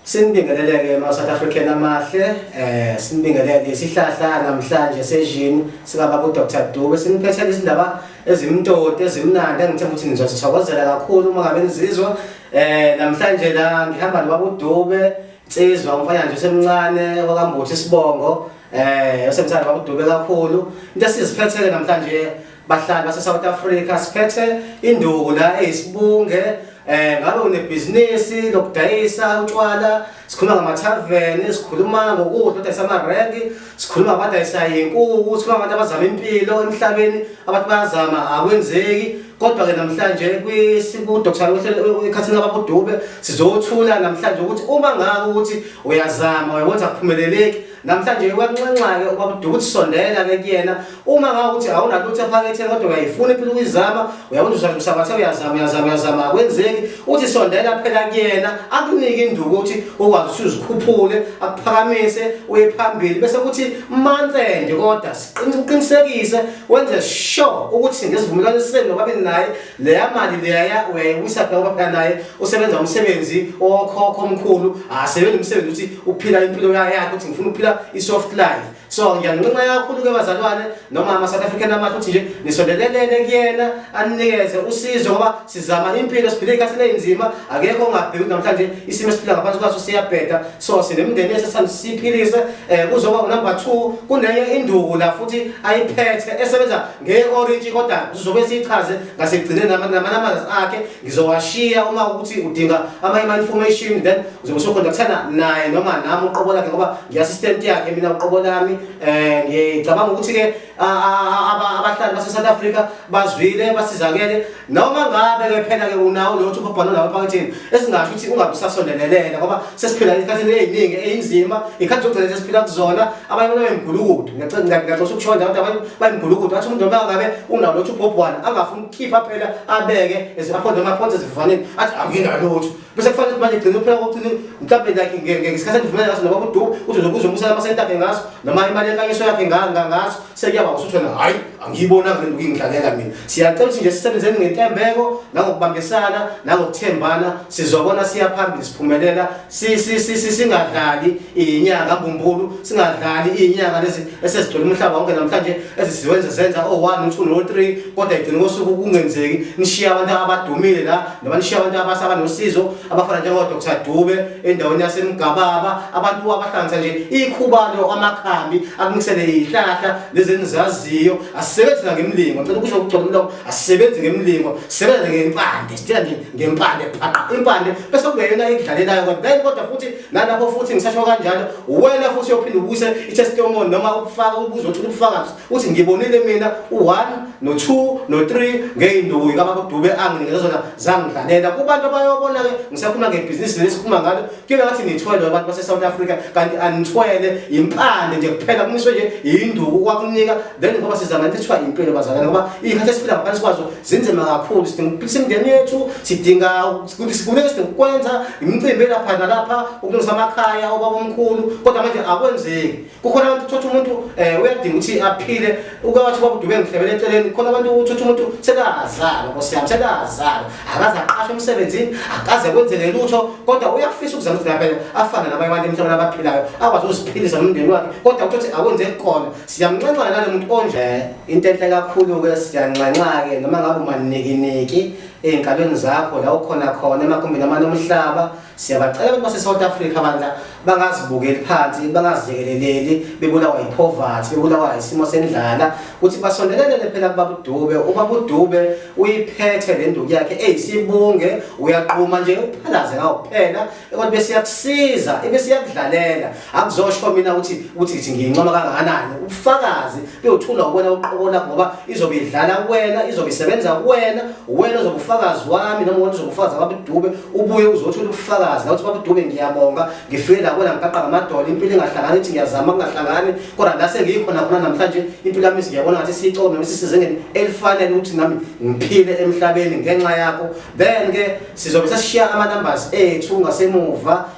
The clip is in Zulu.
Sinibingeleleke ma South African amahle eh sinibingelele isihlahla namhlanje sejini sikaba ku Dr Dube siniphethela izindaba ezimtoti ezimnandi engithe ukuthi nizosithokozela kakhulu uma ngabe nizizwa eh namhlanje la ngihamba nobaba uDube Nsizwa umfana nje semncane wakambuthi isibongo eh osemthanda baba uDube kakhulu into esiziphethele namhlanje Bahlali base South Africa siphethe induku la eyisibunge eh ngabe unebhizinisi lokudayisa utshwala sikhuluma ngamathaveni sikhuluma ngokudla odayisa amarenki sikhuluma abadayisa inkuku sikhuluma abantu abazama impilo emhlabeni abantu bayazama akwenzeki kodwa ke namhlanje kwisiku Dr. Ukhathini ababudube sizothula namhlanje ukuthi uma ngaka ukuthi uyazama uyabona kuphumeleleki Namhlanje kwanxenxa-ke ubabuduka ukuthi sondela-ke kuyena uma ngawukuthi awunalutho ephaketheni kodwa uyayifuna impilo ukuyizama uyakwenza usathi usabathe uyazama uyazama uyazama akwenzeki uthi sondela phela kuyena akunike induku ukuthi ukwazi ukuthi uzikhuphule akuphakamise uye phambili bese kuthi manthende kodwa siqinisekise wenze sure ukuthi ngesivumelwano esiseni nobabili naye leya mali leya uyayiwisa phela ngoba phela naye usebenza umsebenzi owokhokho omkhulu asebenza umsebenzi ukuthi uphila impilo yakhe ukuthi ngifuna ukuphila i-soft life so ngiyanincinca kakhulu-ke bazalwane noma ama-south african amahle ukuthi nje nisondelelene kuyena aninikeze usizo ngoba sizama impilo siphile ikhathini eyinzima akekho ongabheki ukuthi namhlanje isimo esiphila ngaphansi kwaso siyabheda so sinemndeni esesithanda siyiphilise um kuzoba unumber two kunenye induku la futhi ayiphethe esebenza nge-orintshi kodwa sizobe siyichaze ngasekugcineni nama-numbers akhe ngizowashiya uma ukuthi udinga ama-information then uzobe sokhondaktana naye noma nami uqobo lakhe ngoba ngi-assistant yakhe mina uqobo lami um ngicabanga ukuthi-ke abahlali base-south africa bazwile basizakele noma ngabe ke phela ke unawo lotho ubabhalo lawo phakathini esingasho ukuthi ungabe usasondelelele ngoba sesiphila esikhathini eziningi einzima ikhathi zokugcina sesiphila kuzona abanye abantu bayimgulukudu ngiyacela ukushonda abantu abanye bayimgulukudu athi umuntu noma ngabe unawo lotho ubobhwana angafuni ukukhipha phela abeke eziphonde amaphonde ezivaneni athi anginalotho bese kufanele ukuthi manje gcina uphela kokuthi mhlawumbe like ngesikhathi endivumelana ngaso nobaba uduku uthi uzokuza umusela amasenti akhe ngaso noma imali yenkanyiso yakhe ngaso sekuyaba usuthi wena hhayi angiyibonanga le nto kuyingidlalela mina siyacela ukuthi nje sisebenzeni ngentembeko nangokubambisana nangokuthembana sizobona siya phambili siphumelela singadlali iyinyanga mbumbulu singadlali iyinyanga esezigcwele umhlaba wonke namhlanje eziziwenze zenza o-one u-two no-three kodwa igcine kosuku kungenzeki nishiye abantu abadumile la noma nishiye abantu abasaba nosizo abafana njengodr dube endaweni yasemgababa abantu abahlanganisa nje ikhubalo amakhambi akunisele iyihlahla lezi enizaziyo asisebenzi nangemlingo ngicela ukusho ukugcola umlomo asisebenzi ngemlingo sisebenze ngempande sithela nje ngempande phaqa impande bese kungeyona ekudlalelayo kodwa futhi Nalapho futhi ngisasho kanjalo, wena futhi uyophinde ubuse i-testimony noma ukufaka ubuzo uthule ubufakazi uthi ngibonile mina u-1 no-2 no-3 ngey'nduku kababa uDube anginikeza zona zangidlalela. Kubantu abayobona-ke ngisakhuluma ngebhizinisi leli sikhuluma ngalo kuyona ngathi nithwele abantu base-South Africa kanti anithwele yimpande nje kuphela kumiswe nje yinduku kwakunika then ngoba siza ngathi kuthiwa impilo bazalana ngoba iy'khathi esiphila ngaphansi kwazo zinzima kakhulu sidinga ukuphilisa imindeni yethu sidinga Kuthi sibuye sikwenza imicimbi lapha nalapha ukulungisa amakhaya obaba omkhulu kodwa manje akwenzeki. Kukhona abantu uthothi umuntu eh uyadinga ukuthi aphile ukwathi ubaba udube ngihlebele eceleni khona abantu uthothi umuntu sekazala nkosi yami sekazala akaze aqashe emsebenzini akaze kwenzeke lutho kodwa uyafisa ukuzama ukuthi lapha afana nabanye abantu emhlabeni abaphilayo akwazi ukuziphilisa nomndeni wakhe kodwa uthothi akwenzeki khona siyamnxenxa nalomuntu onje eh, into enhle kakhulu ke siyanxenxa ke noma ngabe umanikiniki ey'nkabeni zakho la ukhona khona emagumbini amane omhlaba siyabacela ukuthi base-south africa bandla bangazibukeli phansi bangaziyekeleleli bebulawa yiphovathi bebulawa yisimo sendlala ukuthi basondelelele phela kubabudube ubabudube uyiphethe le nduku yakhe eyisibunge uyaquma nje uphalaze ngawo kuphela kodwa besiyakusiza ebesiyakudlalela Akuzosho mina ukuthi ukuthi ngithi ngiyincoma kangakanani. Ubufakazi buyothula kuwena uqobo lakho ngoba izobe idlala kuwena, izobe isebenza kuwena, uwena ozobe ufakazi wami noma uwena ozobe ufakazi ababudube, ubuye uzothola ubufakazi la ukuthi babudube ngiyabonga, ngifike la kuwena ngiqaqa ngamadolo, impilo ingahlangani ithi ngiyazama kungahlangani, kodwa la sengiyikhona khona namhlanje impilo yami siyabona ngathi siyicoko noma sisizengeni elifanele ukuthi nami ngiphile emhlabeni ngenxa yakho. Then ke sizobe sesishiya ama numbers ethu ngasemuva